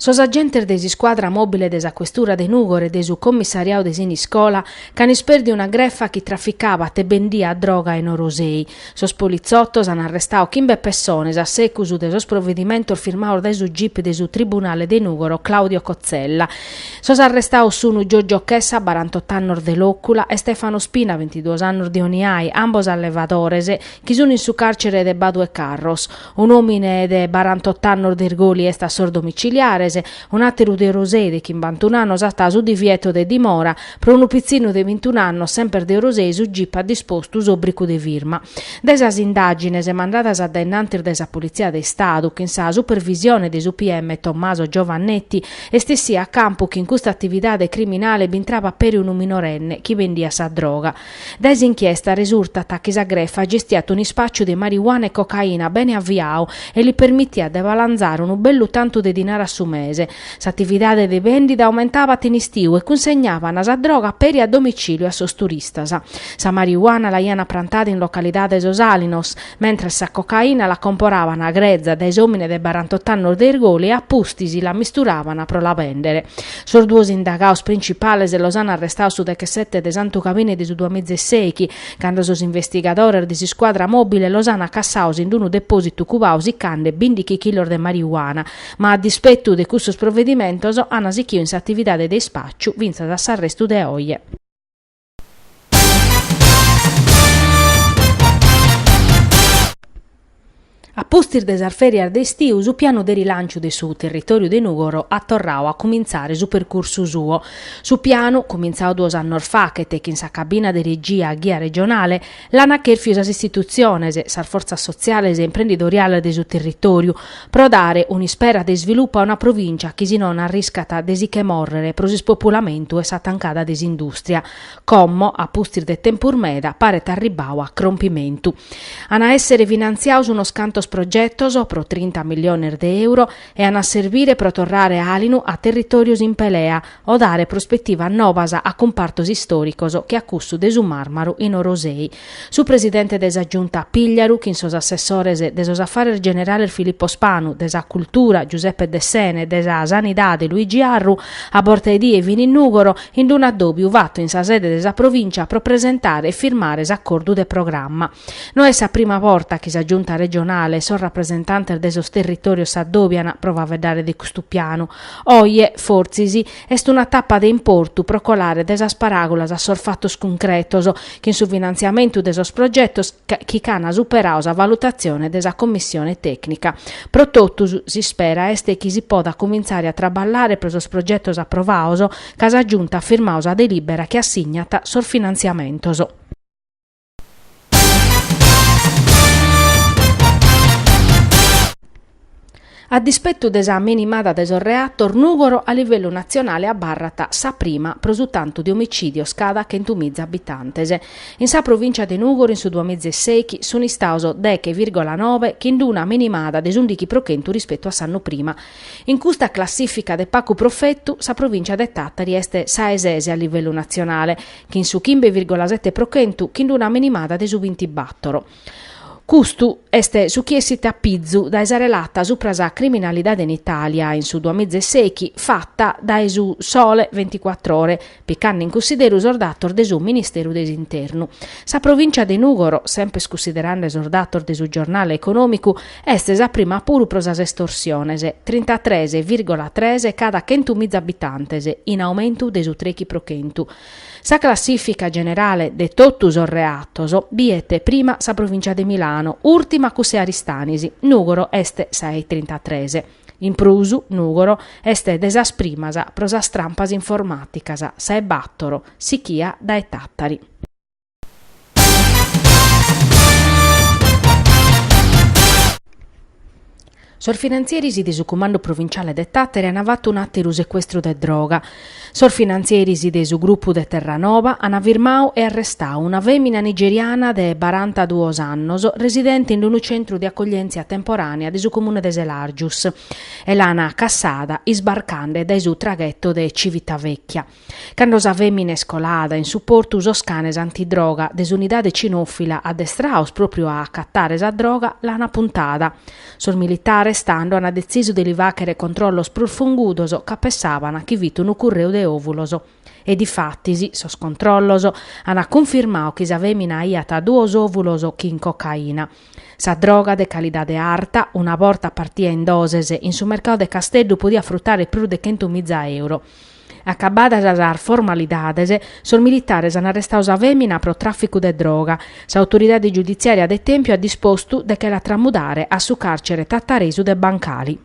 Sos agentes de s'iscuadra mòbile de sa questura de Nùgoro e de su commissariadu de Siniscola ch'an ispèrdiu una grefa chi traficabat e bendiat droga in Orosei. Sos politzotos an arrestadu chimbe pessones a segus de sos provedimentos firmados dae su gip de su Tribunale de Nùgoro Claudio Cozzella. Sos arrestados sunt Giorgio Chessa, barantotto annos de Lòcula, e Stefano Spina, bintiduos annos de Oniai, ambos allevadores, chi sunt in su càrcere de Badu 'e Carros. Un òmine de barantot'annos de Irgoli est a sos domiciliares, un'àteru de Orosei de chimbantun'annos at su divieto de dimora, pro unu pitzinu de bintun'annos semper de Orosei su gip at dispostu s'òbricu de firma. Dae sas indàgines mandadas a dae innantis dae sa Politzia de Istadu, chin sa supervisione de su PM Tommaso Giovannetti, est essiu a campu chi in custa atividade criminale b'intraba peri unu minorenne chi bendiat sa droga. Dae s'inchiesta resurtat chi sa grefa gestiat un'ispàciu de marijuana e cocaina bene aviadu e li permitiat de balanzare unu bellu tantu de dinari a su mese. S'atividade de bèndida aumentabat in istiu e cunsegnàbana sa droga peri a domicìliu a sos turistas. Sa marijuana l'aiana prantada in localidade Sos Àlinos, Mentres sa cocaina la comporabana greza dae s'omine de barantot'annos de Irgoli e a pustis la misturaban pro la bendere. Sos duos indagados principales los an arrestados su dechesette de Santu Gabine de su duamiza e seichi, cando sos investigadores de s'iscuadra mobile los an acassados in unu depositu cubadu sicande bindighi chilos de marijuana, ma a dispetu de cussos provedimentos an sighidu in s'atividade de ispacciu fintzas a s'arrestu de oje. A pustis de sas fèrias de istiu su pianu de rilànciu de su territòriu de Nùgoro at torradu a cumintzare su percursu suo. Su pianu, cumintzadu duos annos faghet chin sa cabina de regia a ghia regionale, L'ant chèrfiu sas istitutziones, sas fortzas sotziales e imprendidoriales de su territòriu, pro dare un'ispera de isvilupu a una provìncia chi si non arriscat de si che mòrrere pro s'ispopulamentu e sa tancada de s'indùstria, como, a pustis de tempus meda, paret arribbadu a crompimentu. An a èssere finantziados unos cantos progetos, pro trinta milliones de euro, e an a serbire pro torrare àlinu a territòrios in pelea, o dare prospetivas nobas a cumpartos istòricos che a cussu de su màrmaru in Orosei. Su presidente de sa Giunta Pigliaru chin sos assessores de sos Affares Generales Filippo Spanu, de sa Cultura Giuseppe Dessena e de sa Sanidade Luigi Arru, a borta 'e die fin in Nùgoro in unu addòbiu fatu in sa sede de sa Provincia pro presentare e firmare s'acordu de programma. No est sa prima borta chi sa Giunta regionale e sos rapresentantes de sos territòrios s'addòbian pro faeddare de custu pianu. Oje, fortzis, est una tapa de importu pro colare dae sas paràgulas a sos fatos cuncretos, chin su finantziamentu de sos progetos chi ch'an superadu sa valutatzione de sa Commissione tècnica. Pro totus, s'ispera est chi si podat cumintzare a traballare pro sos progetos aprovados ca sa Giunta at firmadu sa delìbera chi assignat sos finantziamentos. A dispettu de sa minimada de sos reatos, Nùgoro a livellu natzionale abarrat sa prima pro su tantu de omicìdios cada chentu miza abitantes. In sa provìncia de Nùgoro in su duamiza e sèichi sunt istados deghe vìrgola nobe chin una minimada de s'ùndichi pro chentu rispettu a s'annu prima. In custa classìfica de pagu profetu, sa provìncia de Tàtari est sa e ses a livellu natzionale, chin su chimbe vìrgola sete pro chentu chin d'una minimada de su bintibàtoro. Custu est su chi essit a pizu dae sa relata supra sa criminalidade in Italia in su duamiza e sèichi fata dae su Sole Ventiquattro Ore, picande in cussideru sos datos de su Ministeru de s'Internu. Sa provìncia de Nùgoro, semper cussiderande sos datos de su giornale econòmicu, Est sa prima puru pro sas estorsiones, trintatres vìrgola tres cada chentu miza abitantes, in aumentu de su trechi pro chentu. Sa classìfica generale de totu sos reatos biet prima sa provìncia de Milano, ùrtima cuss'e Aristanis, Nùgoro est sa e trintatres. In prus, Nùgoro est de sas primas pro sas trampas informàticas, sa e bàtoro, sichia dae Tàtari. Sos finantzieris de su Cumandu Provinciale de Tàtari an fatu un'àteru secuestru de droga. Sos finantzieris de su grupu de Terranova an firmadu e arrestadu una fèmina nigeriana de barantaduos annos residente in unu centru de acoglièntzia temporànea de su comune de Selàrgius e l'an cassada isbarcande dae su tragheto de Civitavecchia. Cando sa fèmina est colada in su portu sos canes antidroga de s'unidade cinòfila addestrados pròpriu a acatare sa droga l'ant apuntada. Sos militares tando ant detzisu de li fàghere controllos prus fungudos ca pessàbant chi fit unu curreu de òvulos. E difatis, sos controllos ant cunfirmadu chi sa fèmina aiat duos òvulos chin cocaina. Sa droga de calidade arta, una borta partida in doses, in su mercadu de Casteddu podiat frutare prus de chentu miza euro. Acabadas sas formalidades, sos militares an arrestadu sa fèmina pro tràficu de droga. S'autoridade giuditziària de Tèmpiu at dispostu de che la tramudare a su càrcere tataresu de Bancali.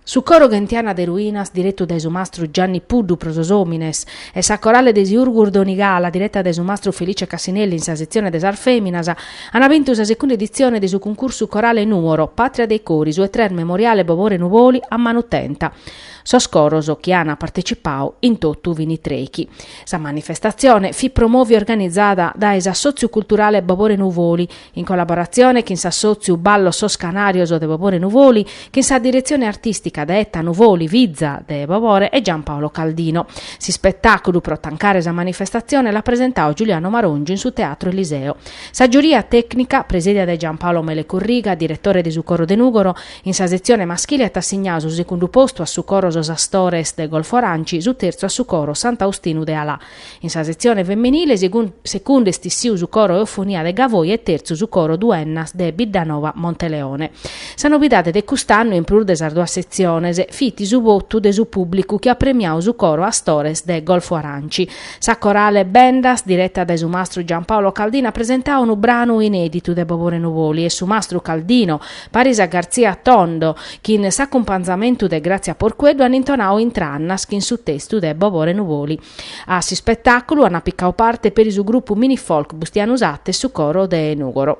Su coro Ghentiana de Ruinas direttu dae su mastru Gianni Puddu pro sos omines e sa corale de Siurgus Donigala diretta dae su mastru Felice Cassinelli in sa setzione de sas feminas ana bintu sa secunda edizione de su cuncursu corale Nuoro, patria dei cori su e tres Memoriale Bobore Nuvoli a manu tenta. Sos coros chi ana partecipau in tottu fini treichi. Sa manifestazione fit promovi organizada dae s'Assoziu Culturale Bobore Nuvoli in collaboratzione chin s'assòtziu Ballos Sos Canarios de Bobore Nuvoli, chin sa diretzione artìstica de Etta Nuvoli, fiza de Bobore, e Gian Paolo Caldino. S'ispetàculu pro tancare sa manifestatzione l'at presentau Giuliano Marongiu in su Teatro Eliseo. Sa giuria tècnica, presidia dae Gian Paolo Mele Corriga, diretore de su Coro de Nùgoro, in sa setzione maschile at assignau su segundu postu a su Coro Sos Astores de Golfo Aranci, su terzu a su Coro Sant'Austinu de Alà, In sa setzione femenile segundu est issiu su coro Eufonia de Gavoi e tertzu su coro Duennas de Biddanova Monteleone. Sa novidade de cust'annu in prus de sas duas setziones fit su votu de su pùblicu chi at premiau su coro Astores de Golfo Aranci. Sa corale Bendas direta dae su mastru Giampaolo Caldino at presentau unu branu inèditu de Bobore Nuvoli e su mastru Caldino Paris a Garzia Tondo, chin s'acumpanzamentu de Grazia Porqueddu an intonau Intrannas chin su testu de Bobore Nuvoli. A s'ispetàculu an picau parte peri su grupu mini-folk Bustianu Satta e su coro de Nùgoro.